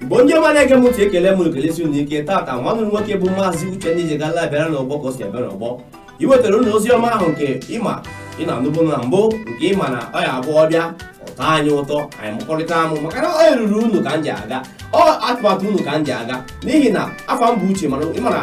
bụ onye ọma na-ege m ntị ekele m ekelesi unu ike tata nwanne nwoke bụ maazị uche ndị ji gala bịara n'ọgbọ ka o si abịa n'ọgbọ iwetara unu ozi ọma ahụ nke ịma ị na-anụbụ na mbụ nke ịma na ọ ya-abụ ọ bịa tọọ anyị ụtọ anyị mụkọrịta amụ maka na ọ eruru unu ka m ji aga ọ atụmatụ unu ka m ji aga n'ihi na afa m bụ uche mana ịmara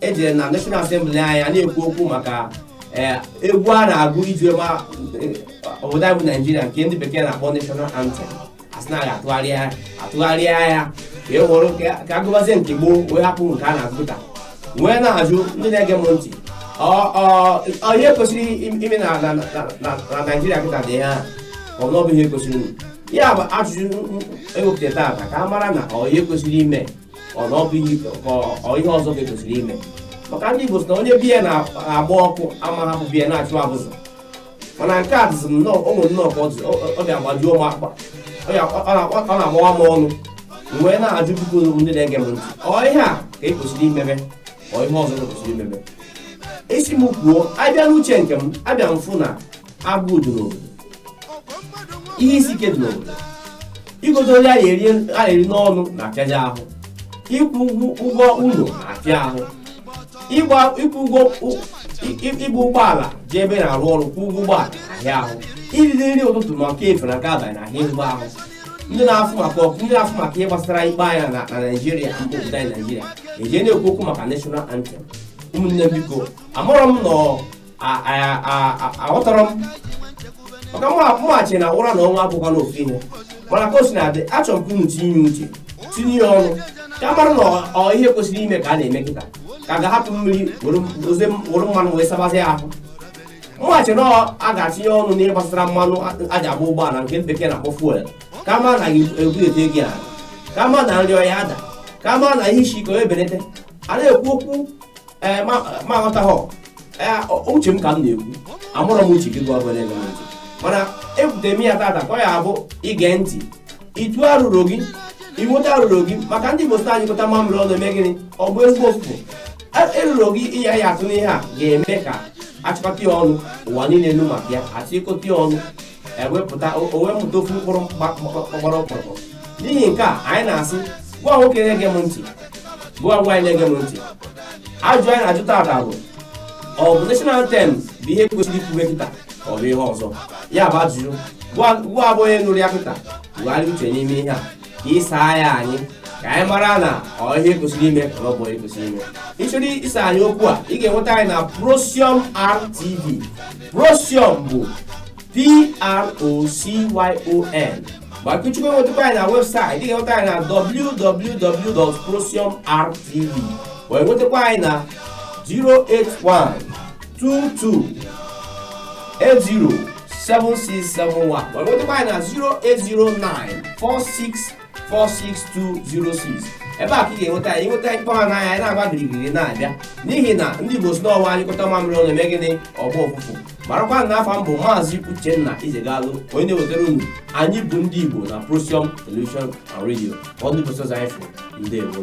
e jee na National Assembly anyị a na-ekwu okwu maka eh, egwu a na-agụ iji ma eh, obodo anyị bụ Naijiria nke ndị bekee na-akpọ National Anthem a sị na a ga-atụgharịa ya atụgharịa ya ka e were ka- ka a gụbazie nke gboo wee hapụ nke a na-agụ taa wee na-ajụ ndị na-ege m ntị ọ- ọ- ọ ihe kwesịrị im- ime na na- na- na- na Naijiria kịta dị ihe a ọ bụ na ọ bụ ihe kwesịrị ime. ya bụ ajụjụ m- m- ewepụtara taata ka a mara na ọ ihe kwesịrị ime ihe ọzọ ka e kwesịrị ime maka ndị Igbo sị na onye be ya na-agba ọkụ ama hapụ be ya na-achụ abụzụ mana nke a dịzi nnọọ ụmụ nnọọ ka ọ dị agbajuo m akpa ọ na-agbawa m ọnụ m wee na-ajụ biko ezigbo ndị na-ege m ntị ọ ihe a ka e kwesịrị imebe ọ ihe ọzọ kwesịrị imebe ị sị m kwuo a bịa n'uche nke m abịa m fụ na agụụ dị n'obodo ihe isi ike dị n'obodo igodo nri a na-eri a na-eri n'ọnụ na-ahịa ahụ ịkwụ ụgwọ ụgwọ ụlọ na-ahịa ahụ ịgba ịkwụ ụgwọ ụ- ị- ị- ịgba ụgbọala jee ebe ị na-arụ ọrụ kwụ ụgwọ ụgbọala ahịa ahụ iri nri ụtụtụ ma nke efifie na nke abalị na-ahịa ezigbo ahụ ndị na-afụ maka ọkụ ndị na-afụ maka ihe gbasara ikpe anyị na na naijiria mba obodo anyị naijiria eje na-ekwu okwu maka national anthem ụmụnne m biko amarọ m nọ A- a- a- a- aghọtarọ m maka mwa- mụwa chi na ụra na ọnwụ abụkwa n'ofu ihe mana ka o si na-adị achọrọ m ka unu tinye uche tinye ya ọnụ ka a mara na ọ- ọ ihe kwesịrị ime ka a na-eme kịta ka a ga-ahapụ mmiri were oze were mmanụ wee sabazie ahụ mụwa chi na ọ- a ga-atinye ọnụ n'ihe gbasara mmanụ a- a ji agba ụgbọala nke bekee na-akpọ fuel ka a mara na a ga-ebulete ya ala ka a mara na nri ọ ya-ada ka a mara na ihe isi ike ebelete a na-ekwu okwu ee ma ma aghọtaghọ uche m ka m na-ekwu amarọ m uche gị gịwa bụ onye na-ege ntị mana ebutere m ya tata ka ọ ya-abụ ị gee ntị ị tụọ arụrụ gị ị wete arụrụ gị maka ndị Igbo sị a nyụkọta mamịrị ọnụ o mee gịnị ọ gbọọ ezigbo ụfụfụ erụrụ gị ị ya-atụ n'ihe a ga-eme ka a chịkọta ya ọnụ ụwa niile anụ maka ya a chịkọta ya ọnụ e wepụta o o wee mụta ofu mkpụrụ gba- gba- gbara ọkpụrụkpụ n'ihi nke a anyị na-asị gịwa nwoke na-ege m ntị gịwa nwaanyị na-ege m ntị ajụjụ anyị na-ajụ taata bụ ọ bụ national anthem bụ ihe kwesịrị ikwuwe kịta ka ọ bụ ihe ọzọ ya bụ ajụjụ gịwa gịwa bụ onye nụrụ ya kịta tụgharịa uche n'ime ihe a ka ị saa ya anyị ka anyị mara na ọ ihe e kwesịrị ime ka ọ bụ ihe e kwesịrị ime ị chọrọ ịsa anyị okwu a ị ga-enweta anyị na Procyon RTV Procyon bụ P-R-O-C-Y-O-N ma ị chọkwa inwetakwa anyị na website ị ga-enweta anyị na www.procyonrtv wee nwetakwa anyị na 081 22807671 ma nwetakwa anyị na 08094646206 ebe a ka ị ga-enweta anyị nweta anyị kpọọ ha n'anya anyị na-agba girigiri na-abịa n'ihi na ndị Igbo sị na ọ wụ a nyụkọta mamịrị ọnụ o mee gịnị ọ gbaa ụfụfụ marakwa na afa m bụ maazị Uchenna Ijegalụ onye na-ewetara unu anyị bụ ndị Igbo na Procyon Television and Radio ọ ndị Igbo anyị fụ ndeewo